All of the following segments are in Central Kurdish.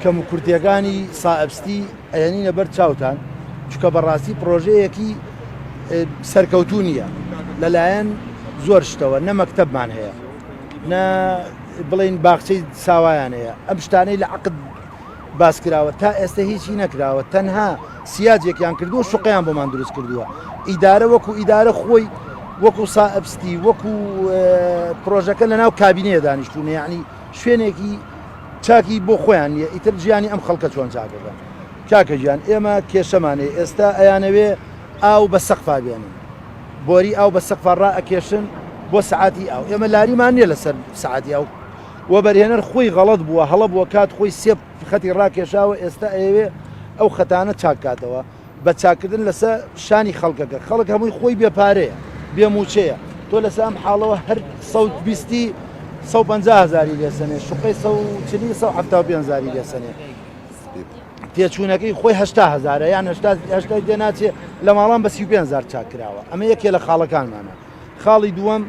کەموکورتیەکانی سائەبستی ئەیەنینە بەر چاوتان چکە بەڕاستی پرۆژەیەکی سەرکەوتو نییە لەلایەن زۆر شتەوە نە مەکتتەبمان هەیە نە بڵێین باخچەی ساوایان هەیە ئەم شتانەی لە عقد باس کراوە تا ئێستا هیچی نەکراوە تەنها سیاجێکیان کردووە شقیان بۆمان دروست کردووە ئیدارە وەکو ئیدارە خۆی وەکو سائبستی وەکو پرۆژەکە لە ناو کابینەیە دانیشتونە یعنی شوێنێکی چاکی بۆ خۆیان نیە ئیتر ژیانی ئەم خەڵکە چۆن چاکەکەن کاکە ژیان ئێمە کێشەمانەیە ئێستا ئەیانەوێ ئاو بە سەقفا بێنن بۆری ئاو بە سەقفا ڕائەکێشن بۆ سەعاتی ئاو ئێمە لاریمان نیە لەسەر سەعاتی ئاو وەبەرهێنەر خۆی غەڵەت بووە هەڵە بووە کات خۆی سێ خەتی ڕاکێشاوە ئێستا ئەیەوێ ئەو خەتانە چاک کاتەوە بە چاککردن لەسە شانی خەڵکەکە خەڵک هەمووی خۆی بێ پارەیە بێ موچەیە تۆ لەسە ئەم حاڵەوە هەر سەوت بیستی 150 هزاری لێسەنێ شوقەی 140 170 هزاری لێسەنێ تێچوونەکەی خۆی هەشتا هەزارە یان هەشتا هەشتای تێ ناچێ لە ماڵان بە سی و پێنج هەزار چاک کراوە ئەمە یەکێ لە خاڵەکانمانە خاڵی دووەم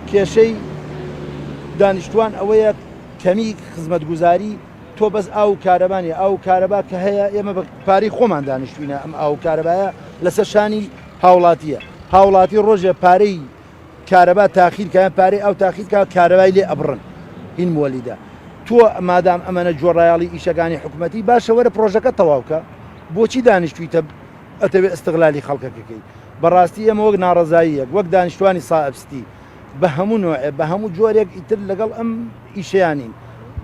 کێشەی دانیشتوان ئەوەیە کەمی خزمەتگوزاری تۆ بەس ئاو و کارەبانی ئاو و کارەبا کە هەیە ئێمە بە پارەی خۆمان دانیشتوینە ئەم ئاو و کارەبایە لەسەر شانی هاوڵاتیە هاوڵاتی ڕۆژێ پارەی کارەبا تاخیر کا یان پارەی ئاو تاخیر کا کارەبای لێ ئەبڕن هین موەلیدە تۆ مادام ئەمەە جۆڕایاڵی ئیشەکانی حکومەتی باشە وەرە پرۆژەکە تەواوکە بۆچی دانیشتویتە ئەتەوێ ئەستغلالی خەڵکەکەکەی بەڕاستی ئێمە وەک ناڕزاییەک وەک دانیشتوانی سائبستی بە هەموو نوێ بە هەموو جۆرێک ئیتر لەگەڵ ئەم ئیشیانین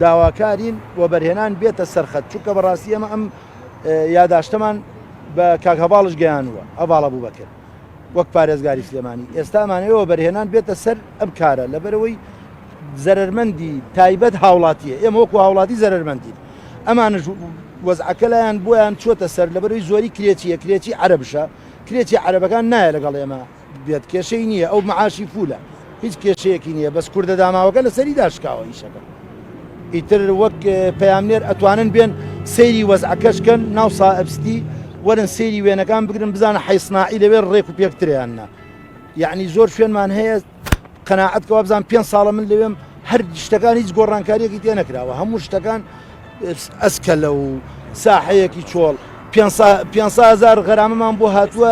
داواکارین و بەرهێنان بێتە سەرخەت چونکە بەڕاستی ئەمە ئەم یاداشتەمان بە کاک هەواڵش گەیانووە هەواڵە بوو بەکرد وەک پارێزگاری سلێمانی ئێستا ئەمانەوێ وەبەرهێنان بێتە سەر ئەم کارە لەبەرەوەی زەرمەندی تایبەت هاوڵاتیە ئێمە وەکو هاوڵاتی زەرمەندی ئەمانش وەزعەکە لایەن بۆیان چۆتە سەر لەبەروی زۆری کرێچیە کرێچی عربشە کرێچی عربەکان نایە لەگەڵ ئێمە بێت کێشەی نییە ئەو معاشی فولە هیچ کێشەیەکی نیە بەس کوردە داماوەکە لەسەری داشکاوە ئیشەکە ئیتر وەک پەیامنێر ئەتوانن بێن سەیری وەزعەکەش کەن ناو سائەبستی وەرن سەیری وێنەکان بگرن بزانە حیسناعی لەوێ ڕێک و پێکتریان نا یعنی زۆر شوێنمان هەیە قەنەعەت کەوا بزان پێ ساڵە من لەوێم هەر شتەکان هیچ گۆڕانکاریەکی تێ نەکراوە هەموو شتەکان ئەسکەلە و ساحەیەکی چۆڵ پێ هزار غەرامەمان بۆ هاتووە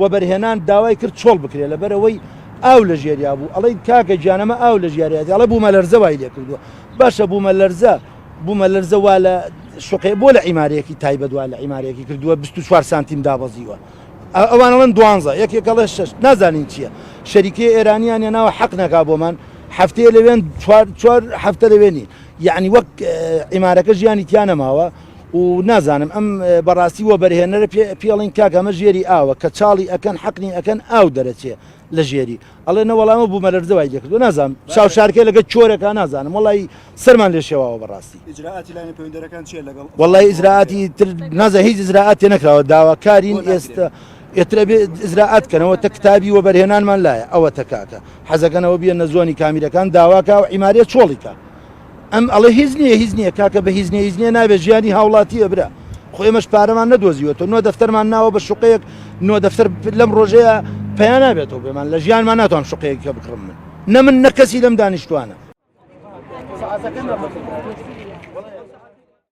وەبەرهێنان داوای کرد چۆڵ بکرێت لەبەرئەوەی ئاو لەژێریا بوو ئەڵێی کاکە گیان ئەمە ئاو لەژیاریاتی ئەڵێ بوومەلەرزە وای لێکردووە باشە بوومەلەرزە بوومەلەرزە وا لە شوقێ بۆ لە عیمارەیەکی تایبەت وا لە عیمارەیەکی کردووە 24 سانتیم دابەزیوە ئەوانڵەن دوانزە یەکێکەڵێ شش نازانین چییە شەریکە ئێرانیان ناوە حەق نەکا بۆمان هەفتەیە لەوێن چوار هەفتە لەوێنی یعنی وەک عیمارەکە ژیانی تیا نەماوە و نازانم ئەم بەڕاستی وەبەرهێنەرە پێ پێڵین کاک ئەمە ژێری ئاوە کە چاڵی ئەکەن حەقنی ئەکەن ئاو دەرەچێ لە ژێری ئەڵێ نەوەڵامە بوو مەلەرزە وای لێکردو نازانم چاو شارکە لەگە چۆرەکە نازانم وڵی سەرمان لێ شێواوە بەڕاستی وڵی ئیزراعاتی تر نازە هیچ ئزراعات تێ نەکراوە داواکارین ئێستا ئێترە بێ ئزراعات کەنەوە تە کتابی وە بەرهێنانمان لایە ئەوە تەکاکە حەزەکەنەوە بیە نەزۆنی کامیرەکان داواکە و ئیمارە چۆڵیکە ئەم ئەڵێ هیچ نیە هیچ نیە کاکە بە هیچ نیە هیچ نیە نابێت ژیانی هاوڵاتیە برا خۆ ئێمەش پارەمان نەدۆزیوە تۆ نۆ دەفتەرمان ناوە بە شوقەیەک نۆ دەفتەر لەم ڕۆژەیە پیا نابێتەوە بێمان لە ژیانمان ناتوان شوقەیەکە بکڕم من نە من نەکەسی لەم دانیشتوانە